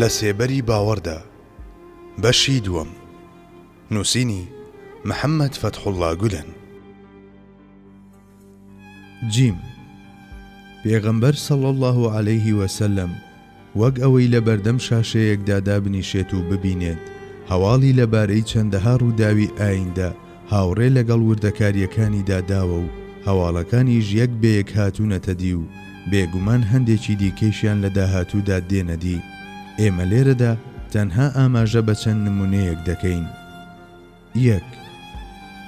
لە سێبەری باوەڕدا بەشی دووەم نووسینی محەممەد فەتحوڵا گولەن جیم پێغەمبەر سەڵ الله عليه وسلم وەک ئەوەی لە بەردەم شاشەیەکدا دابنیشێت و ببینێت هەواڵی لەبارەی چەندەها ڕووداوی ئایندە هاوڕێ لەگەڵ وردەکارییەکانیدا داوە و هەواڵەکانیش یەک بە یەک هاتوونەتە دی و بێگومان هەندێکی دیکەیشیان لە داهاتوودا دێنە دی. ئێمە لێرەدا تەنها ئاماژە بە چەند نموونەیەک دەکەین. یەک،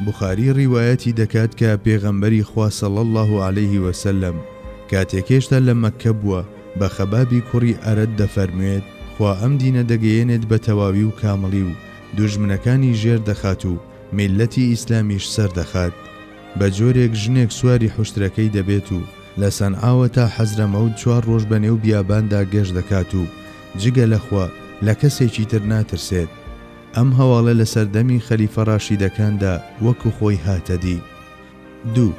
بوخاری ڕیوایەتی دەکات کە پێغەمبەری خوا صلی اللە علیه و سلم کاتێک هێشتا لە مەککە بووە بە خەبابی کوڕی ئەرەت دەفەرموێت، خوا ئەم دینە دەگەیەنێت بە تەواوی و کامڵی و دوژمنەکانی ژێر دەخات و میللەتی ئیسلامیش سەر دەخات. بە جۆرێک ژنێک سواری حوشترەکەی دەبێت و لە سەنعاوە تا حەزرەمەوت چوار ڕۆژ بە نێو بیاباندا گەشت دەکات و جگە لە خوا لە کەسێکی تر ناترسێت. ئەم هەواڵە لە سەردەمی خەلیفە ڕاشیدەکاندا وەکو خۆی هاتە دی. دوو.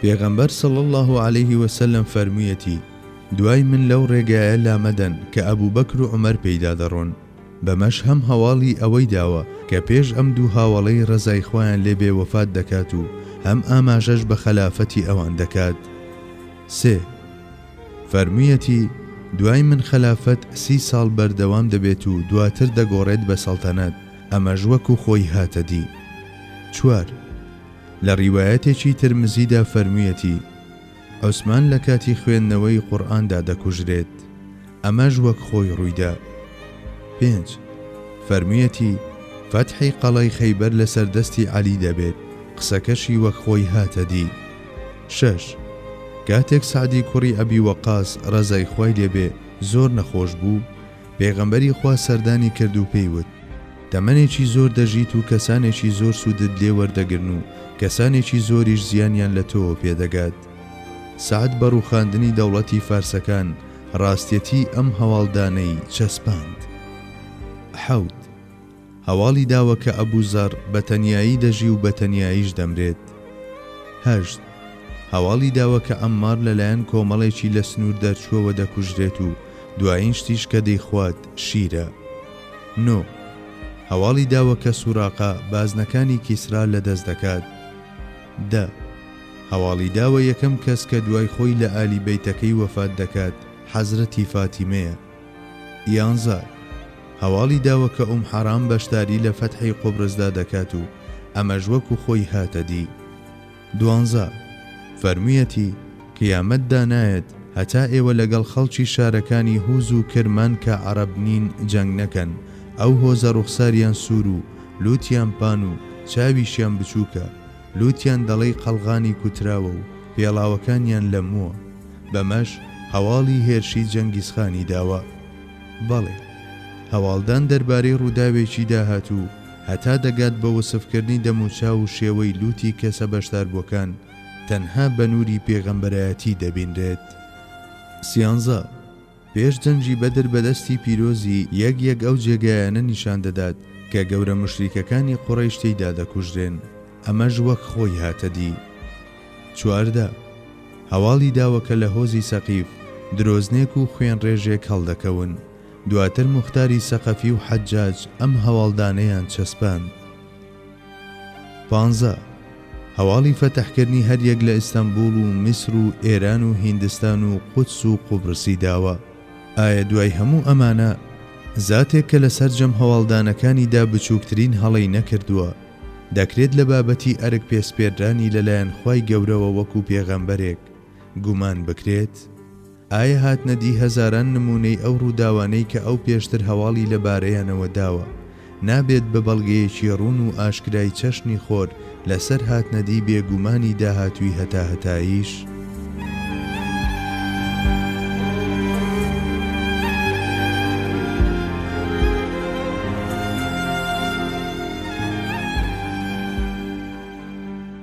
پێغەمبەر صلی اللە علیە وسلم فەرموویەتی، دوای من لەو ڕێگایە لامەدەن کە ئەبوبەکر و عومەر پێیدا دەڕۆن. بەمەش هەم هەواڵی ئەوەی داوە کە پێش ئەم دوو هاوەڵەی ڕەزای خوایان لێ بێ وەفات دەکات و هەم ئاماژەش بە خەلافەتی ئەوان دەکات. سێ. فەرموویەتی، دوای من خەلافەت سی ساڵ بەردەوام دەبێت و دواتر دەگۆڕێت بە سەڵتەنەت، ئەمەش وەکو خۆی هاتە دی. چوار. لە ڕیوایەتێکی ترمزیدا فەرموویەتی، عوسمان لە کاتی خوێندنەوەی قورئاندا دەکوژرێت. ئەمەش وەک خۆی ڕوویدا. پێنج، فەرموویەتی، فەتحی قەڵای خەیبەر لەسەر دەستی عەلی دەبێت، قسەکەشی وەک خۆی هاتە دی. شەش، کاتێک سەعدی کوڕی ئەبی وەقاس ڕەزای خوای لێ بێ زۆر نەخۆش بوو، پێغەمبەری خوا سەردانی کرد و پێی وت، تەمەنێکی زۆر دەژیت و کەسانێکی زۆر سوودت لێ وەردەگرن و کەسانێکی زۆریش زیانیان لە تۆوە پێدەگات. سەعد بە ڕووخاندنی دەوڵەتی فارسەکان، ڕاستیەتی ئەم هەواڵدانەی چەسپاند. حەوت، هەواڵی داوە کە ئەبو زەڕ بە تەنیایی دەژی و بە تەنیاییش دەمرێت. هەشت، هەواڵی داوە کە عەممار لەلایەن کۆمەڵێکی لە سنوور دەرچووەوە دەکوژرێت و دوایین شتیش کە دەیخوات شیرە. نۆ، هەواڵی داوە کە سوراقە بازنەکانی کیسرا لەدەست دەکات. دە. هەواڵی داوە یەکەم کەس کە دوای خۆی لە ئالی بەیتەکەی وەفات دەکات حەزرەتی فاتیمەیە یانزار هەواڵی داوە کە ئوم حەرام بەشداری لە فەتحی قوبرسدا دەکات و ئەمەش وەکو خۆی هاتە دی دوانزە فەرموویەتی قیامەت دانایەت هەتا ئێوە لەگەڵ خەڵکی شارەکانی هوز و کرمان کە عەرەب نین جەنگ نەکەن ئەو هۆزە ڕوخساریان سوور و لوتیان پان و چاویشیان بچووکە لووتیان دەڵێی قەڵغانی کوتراوە و پێڵاوەکانیان لەمووە، بەمەش هەواڵی هێرشی جەنگیزخانی داوە. بەڵێ، هەواڵدان دەربارەی ڕووداوێکی داهاتوو، هەتا دەگات بە وەسفکردنی دەموچاو و شێوەی لووتی کەسە بەشداربووەکان، تەنها بە نووری پێغەمبەرایەتی دەبینرێت. سیانزە. پێش جەنگی بەدر بە دەستی پیرۆزی یەک یەک ئەو جێگایانە نیشان دەدات کە گەورە موشریکەکانی قوڕەیش تێیدا دەکوژرێن ئەمەش وەک خۆی هاتە دی. چواردە. هەواڵی داوە کە لە هۆزی سەقیف درۆزنێک و خوێنڕێژێک هەڵدەکەون. دواتر موختاری سەقەفی و حەجاج ئەم هەواڵدانەیان چەسپاند. پانزە، هەواڵی فەتحکردنی هەریەک لە ئیستەنبووڵ و میسر و ئێران و هیندستان و قودس و قوبرسی داوە. ئایا دوای هەموو ئەمانە، زاتێک کە لە سەرجەم هەواڵدانەکانیدا بچووکترین هەڵەی نەکردووە، دەکرێت لە بابەتی ئەرک پێسپێردرانی لەلایەن خوای گەورەوە وەکو پێغەمبەرێک، گومان بکرێت؟ ئایە هاتنە دی هەزاران نموونەی ئەو ڕووداوانەی کە ئەو پێشتر هەواڵی لە بارەیانەوە داوە، نابێت بە بەڵگەیەکی ڕوون و ئاشکرای چەشنی خۆر لە سەر هاتنە دی بێ گومانی داهاتووی هەتاهەتاییش؟